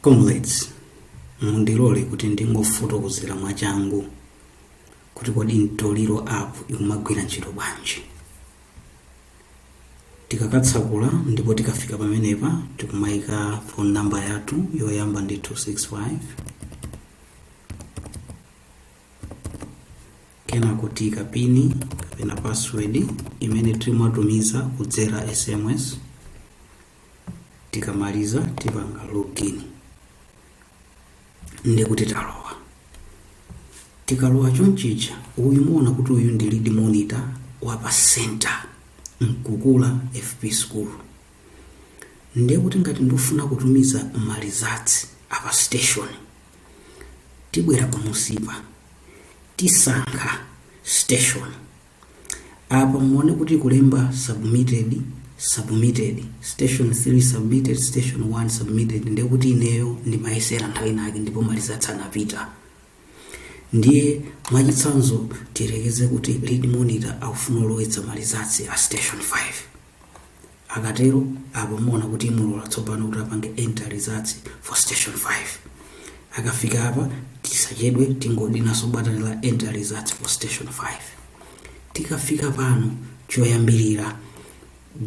Comrades, mundilole kuti ndingofotokozera mwachangu kuti kodi Mtoliro app ikumagwira ntchito bwanji. Tikakatsakula ndipo tikafika pamenepa tikumaika phone number yathu yoyamba ndi 265 kenako tiyika pini kapena password imene timatumiza kudzera SMS tikamaliza tipanga login ndekuti talowa tikalowa chonchicha uyu muona kuti uyu ndi lead monitor wa pa center mkukula fp school ndiye kuti ngati ndifuna kutumiza malizatsi apa station tibwera pamunsipa tisankha station apa muone kuti kulemba submitted submitted station 3 submitted station 1 submitted ndiye kuti ineyo ndimayesera nthawi inake ndipo malizatsi anapita ndiye mwachitsanzo tiyerekeze kuti lead monitor akufuna ulowetsa malizatsi a station 5 akatero apo muona kuti imulola tsopano kuti apange enter results for station 5 akafika apa tisachedwe tingodinaso batani la enter results for station 5 tikafika pano choyambirira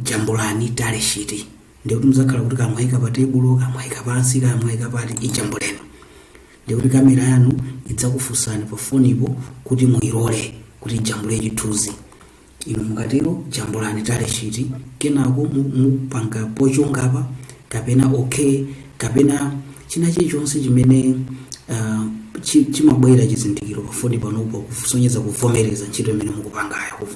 jambulani tally sheet ndekuti muzakhala kuti kaya mwayika pa tebulo kaya mwayika pansi kaya mwayika pati ijambuleni ndekuti kamera yanu idzakufunsani pafonipo kuti muyilole kuti ijambule chithunzi Inu mukatero jambulani tally sheet kenako mu, mupanga pochonga apa kapena okay kapena china chilichonse chimene uh, chi, chimabwera chizindikiro pafoni panupo kusonyeza kuvomereza ntchito imene mukupangayo kuvo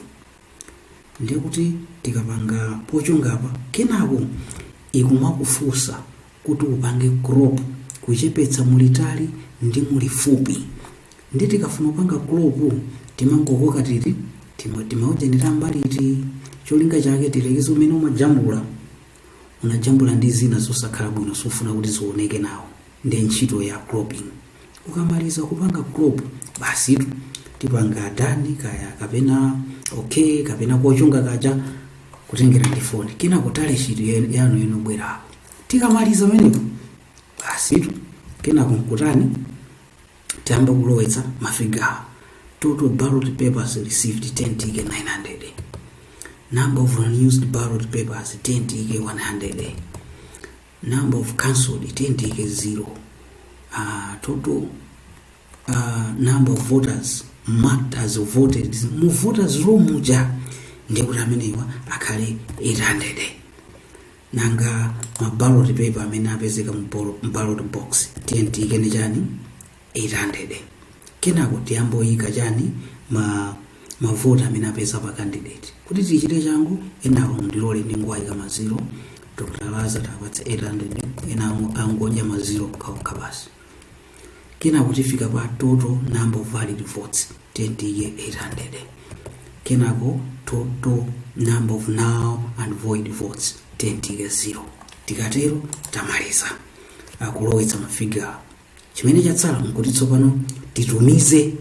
ndiye kuti tikapanga pochonga apa kenako ikumakufunsa kuti upange crop kuchepetsa mulitali ndi mulifupi nde tikafuna kupanga crop timangokoka titi tima timaujeni tam'mbaliti cholinga chake tiyerekeze mmene umajambula unajambula ndi zina zosakhala bwino sufuna kuti zioneke nawo ndiye ntchito ya cropping ukamaliza kupanga crop basitu tipanga done kaya kapena okay kapena kochonga kaja kutengera ndi foni kenako tally sheet yen- yanu inobwera apo tikamaliza menepo basitu kenako nkutani tiyamba kulowetsa mafigawa total ballot papers received tiyeni tiike 900 number of unused ballot papers tiyeni tiike 100 number of cancelled tiyeni tiyike zero uh, total uh, number of voters marked as voted mu voters roll muja ndiye kuti amenewa akhale 800 nanga ma ballot paper amene apezeka mu ball- mu ballot box tiyeni tiyike ni chani 800 kenako tiyamboika chani mavoti amene apeza pa candidate kuti tichite changu enawo mundilole ndingowaika maziro dr laza tiwapatse 800 enawo angodya maziro okhaokha basi kenako tifika pa total number of valid votes tiyeni tiyike 800 kenako total number of null and void votes tiyeni tiyike 0 tikatero tamaliza akulowetsa mafigure chimene chatsala nkuti tsopano titumize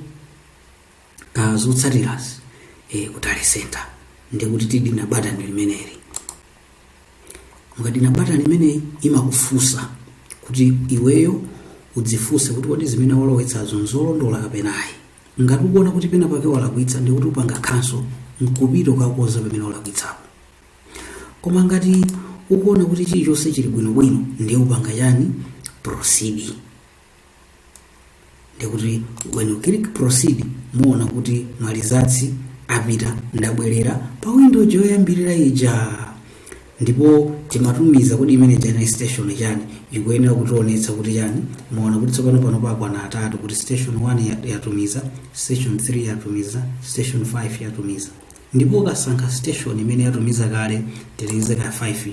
ah, zotsatirazi eh, ku tally center ndikuti tidina batani limeneli mukadina batani limeneli imakufunsa kuti iweyo udzifunse kuti kodi zimene walowetsazo nzolondola kapena ayi ngati ukuona kuti pena pake walakwitsa ndikuti upanga cancel nkupita kukakonza pamene walakwitsapo koma ngati ukuona kuti chilichonse chili bwinobwino ndiye upanga chani proceed ndikuti when you click proceed muona kuti ma results apita ndabwerera pa window yoyambirira ija ndipo timatumiza kodi imene ija ndi station chani ikuyenera kutionetsa kuti chani muona kuti tsopano pano pakwana atatu kuti station 1 ya- yatumiza station 3 yatumiza station 5 yatumiza Ndipo ukasankha station imene yatumiza kale tiyerekeze kaya 5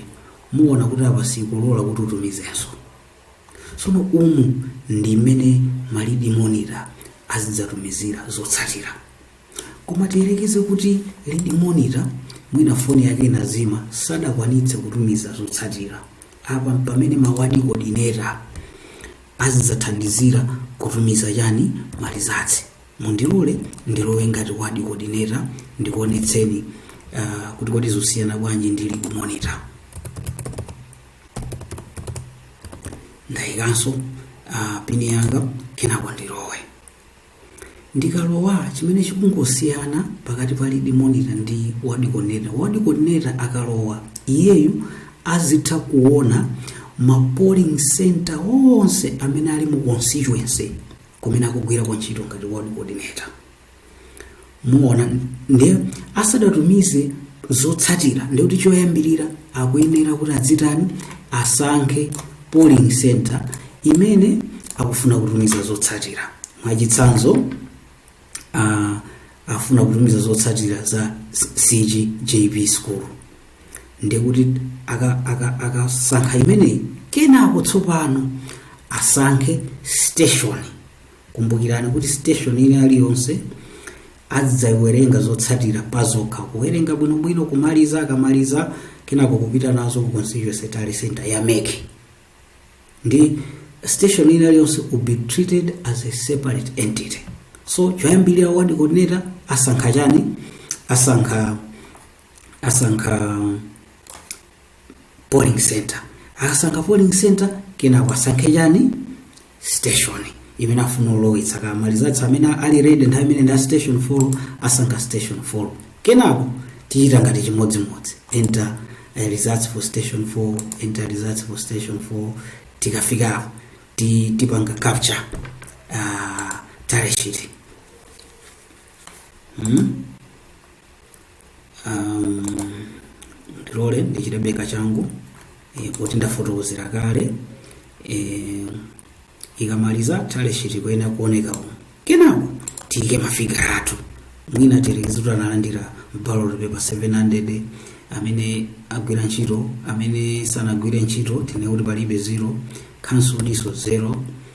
muona kuti apa sikulola kuti utumizenso. Tsono umu ndi mmene ma lead monitor azidzatumizira zotsatira. Koma tiyerekeze kuti lead monitor mwina foni yake inazima sadakwanitse kutumiza zotsatira. Apa mpamene ma ward coordinator azidzathandizira kutumiza chani ma results. mundilole ndilowe ngati ward coordinator ndikuonetseni uh, kuti kodi zosiyana bwanji ndi lead monitor ndayikanso uh, pini yanga kenako ndilowe ndikalowa chimene chikungosiyana pakati pa lead monitor ndi ward coordinator ward coordinator akalowa iyeyu azitha kuona ma polling center onse amene ali mu constituency kumene akugwirako ntchito ngati ward coordinator muona ndiye asadatumize zotsatira ndikuti choyambirira akuyenera kuti adzitani asankhe polling center imene akufuna kutumiza zotsatira mwachitsanzo a- afuna kutumiza zotsatira za cgjp school ndikuti akasankha aka, aka akasankha imeneyi kenako tsopano asankhe station kumbukirani kuti station ina iliyonse azidzawerenga zotsatira pazokha kuwerenga bwinobwino kumaliza akamaliza kenako kupita nazo ku constituency tally center ya mec ndi station ina iliyonse will be treated as a separate entity so choyambirira ward coordinator asankha chani asankha asankha polling center akasankha polling center kenako asankhe chani station imene afuna ulowetsa ma results amene ali ready nthawi imene ndi a station 4 asankha station 4 kenako tichita ngati chimodzimodzi enter eh, results for station 4 enter results for station 4 tikafika apo ti, tipanga capture uh, tally sheet mm? ndilole ndichitebe kachangu eh, poti ndafotokozera kale eh, ikamaliza tally sheet kuyenera kuoneka umu kenako tiyike mafiga athu mwina tiyerekeze kuti analandira ballot paper 700 amene agwira ntchito amene sanagwire ntchito tinene kuti palibe zero cancelled nso zero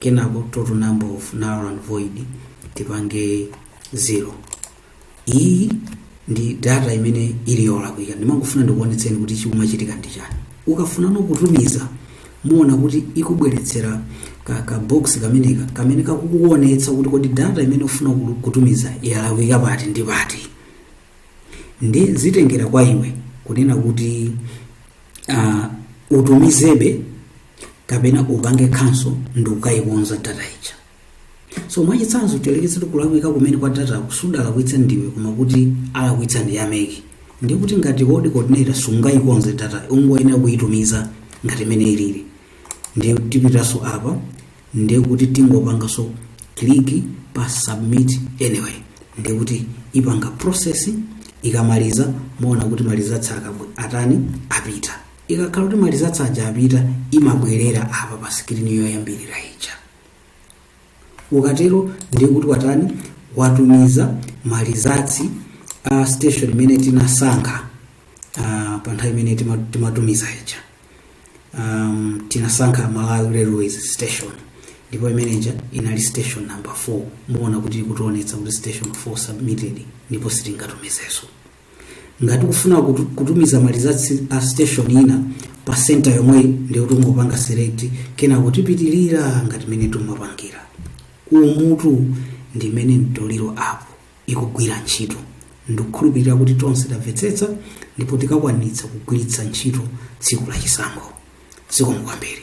kenako total number of null and void tipange 0 iyi ndi data imene ili yolakwika ndimangofuna ndikuonetseni kuti chikumachitika ndi chani ukafunano kutumiza muona kuti ikubweretsera ka, ka box kameneka kamene kakukuonetsa kuti kodi data imene ufuna kulu- kutumiza yalakwika pati ndi pati ndi zitengera kwa iwe kunena kuti uh, utumizebe kapena upange cancel ndi ukayikonza data ija so mwachitsanzo tiyerekeze kuti kulakwika kumene kwa datako sudalakwitsa ndiwe koma kuti alakwitsa ndi a mec ndiye kuti ngati ward coordinator sungayikonze data ungoyenera kuyitumiza ngati mmene ilili ndiye tipitanso apa ndiye kuti tingopanganso click pa submit anyway ndiye kuti ipanga process ikamaliza muona kuti ma results atani apita ikakhala kuti ma results aja apita imabwerera apa pa screen yoyambirira ija ukatero ndiye kuti watani watumiza ma results a station imene tinasankha uh, pa nthawi imene tima- timatumiza ija um, tinasankha malawi railways station ndipo imeneja inali station number 4 muona kuti ikutionetsa kuti station 4 submitted ndipo sitingatumizeso ngati tikufuna kutu- kutumiza malizatsi a station ina pa center yomweyi ndiyo tingopanga select kenako tipitirira ngati mene timapangira umutu ndi mmene mtoliro app ikugwira ntchito. Ndikukhulupirira kuti tonse tamvetsetsa ndipo tikakwanitsa kugwiritsa ntchito tsiku la chisankho. Zikomo kwambiri.